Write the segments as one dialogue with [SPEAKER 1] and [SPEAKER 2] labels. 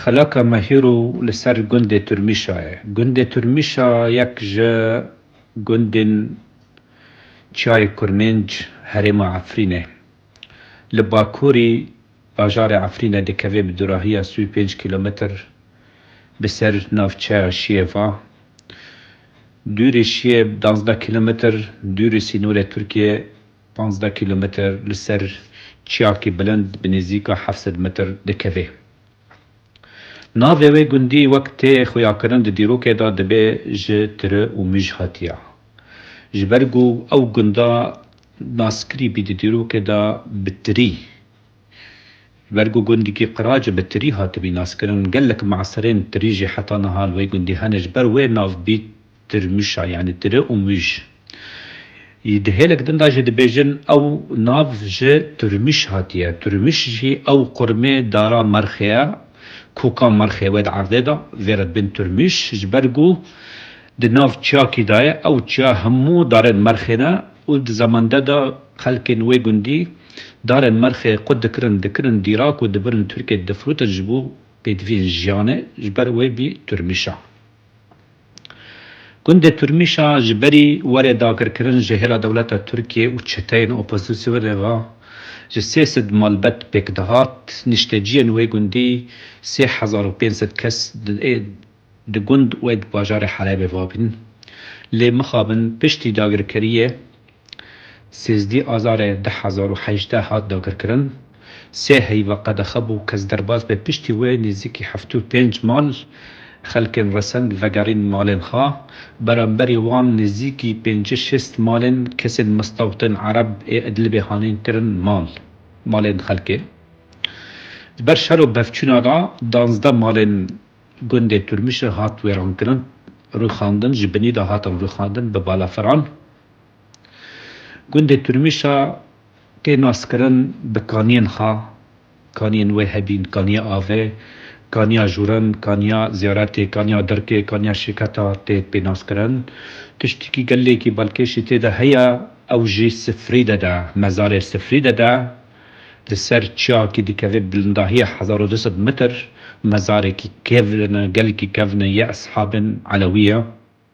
[SPEAKER 1] Xelaka me hîro li ser gundê Turmîşa ye. Gundê Turmîşa yek ji gundên Çiyayê Kurmênc herêma Efrînê li bakurî bajarê Efrînê dikeve bi dûrahiya sî û pênc kîlometr bi ser navçeya Şiyeva. Dûrê Şiyeb, duwazdeh kîlometr dûrê sînorê Tirkiyê Pazdeh kîlometer li ser çiyakî bilind bi nêzîka heft sed metr dikeve. Navê wê gundî wek tê xuyakirin di dîrokê de dibê ji tire û mij hatiya. Ji ber ku ew gunda naskirî bî di dîrokê de bi tirî. Ji ber ku gundikî qirac bi tirî hatibî naskirin, gelek maserên tirî jî heta niha li wê gundî hene ji ber wê nav bî Tirmîşa yanî tiri û mîş yî di hêlek din de jî dibêjin. Ew nav ji Tirmîş hatiye. Tirmîş jî ew qurmê dara Merxê ye ku ka Merxê wê di erdê de. Vê re dibin Tirmîş ji ber ku di nav çiyakî de ye. Ew çiya hemû darên Merxê ne û di zemande de xelkên wê gundî darên Merxê qut dikirin, dikirin dîrak û dibirin Tirkiyê difirotin ji bo pêdiviyên jiyanê. Ji ber wê bî Tirmîşa. Gundê Turmîşa ji berî warê dagirkirin ji hêla dewleta Tirkiyê û çeteyên opozîsyonê ve ji sê sed malbet pêk dihat. Nişteciyên wê gundî sê hezar û pênc sed kes ê di gund û ê di bajarê Helebê vabîn. Lê mixabin piştî dagirkeriyê Sêzdî Azarê du hezar û hejdeh hat dagirkirin. Sê heyva qedexe bû kes derbas be piştî wê nêzîkî heftê û pênc mal xelkên resend vegerîn malên xwe. Beramberî wan nêzîkî pêncî şêst malên kesên mistawtên Ereb ê Idlibê hanîn kirin mal malên xelkê. Ji ber şer û bevçûna re danzdeh malên gundê Turmişe hat wêrankirin, rûxandin ji binî de hatin rûxandin bi balafiran. Gundê Turmîşa tê naskirin bi kaniyên xwe, kaniyên wê hebîn, kaniya avê, kaniya jûrin, kaniya ziyaretê, kaniya dirkê, kaniya şirketa tê pênaskirin. Tiştekî gelekî balkêşî tê de heye, ew jî sifrî de de, mezarê sifrî de de, li ser çiyakî dikeve bilindahîya hezar û du sed mitr, mezarekî kevn e, gelkî kevn e, yê eshabên Elewî ye.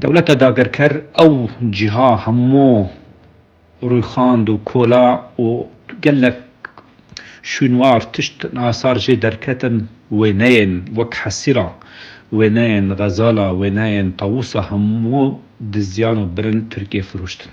[SPEAKER 1] Dewleta dagirker ew cîha hemû rûyxand û kola û gelek şûnwar tişt nasar jê derketin, wêneyên wek hesîra, wêneyên xezala, wêneyên tawûsa hemû diziyan û birin Tirkiyê firûştin.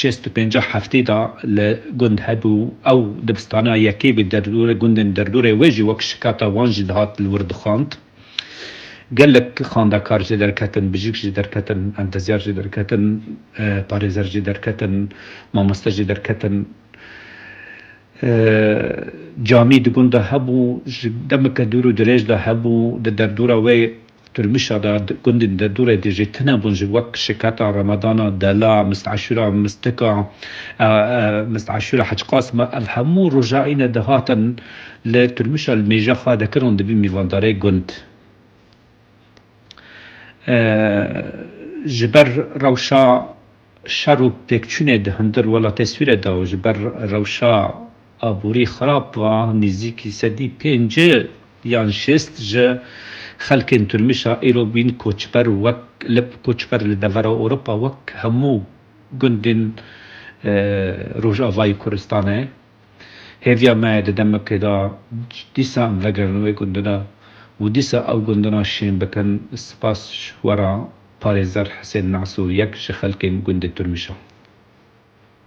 [SPEAKER 1] Şêst û pênceh heftê da li gund hebû û ew dibistana yekê bi derdorê gundên derdorê wê jî wek şikata wan jî dihat li wir dixwand. Gelek xwendekar jê derketin, bijîk jê derketin, entezyar jê derketin, parêzer jê derketin, mamoste jê derketin. Camî di gund de hebû, ji demeke dûr û dirêj de hebû, di derdora wê Tirmîşa de gundên derdorê de jî tune bûn ji wek şiketa Remadana, Dela, Mist Aşura, Mistika, Mist Aşura, Hec Qasima ev hemû roja îne de hatin li Tirmîşa li mêja xwe de kirin û di vî mîvandarê gund ji ber rewşa Şer û pêkçûnê di hundir wela teswîre de û ji ber rewşa aborî xirab ve nêzîkî sedî pênc yan şêst ji xelkên Tirmîşa îro bûyîn koçber û wek lip koçber li devera Ewropa wek hemû gundên Rojavayî Kurdistanê. Hêviya me ye di demekê de dîsa em vegerin wê gundine û dîsa ew gundina şên bikin. Spas ji we re. Parêzer Husên Mesûr yek ji xelkên gundê Tirmîşan.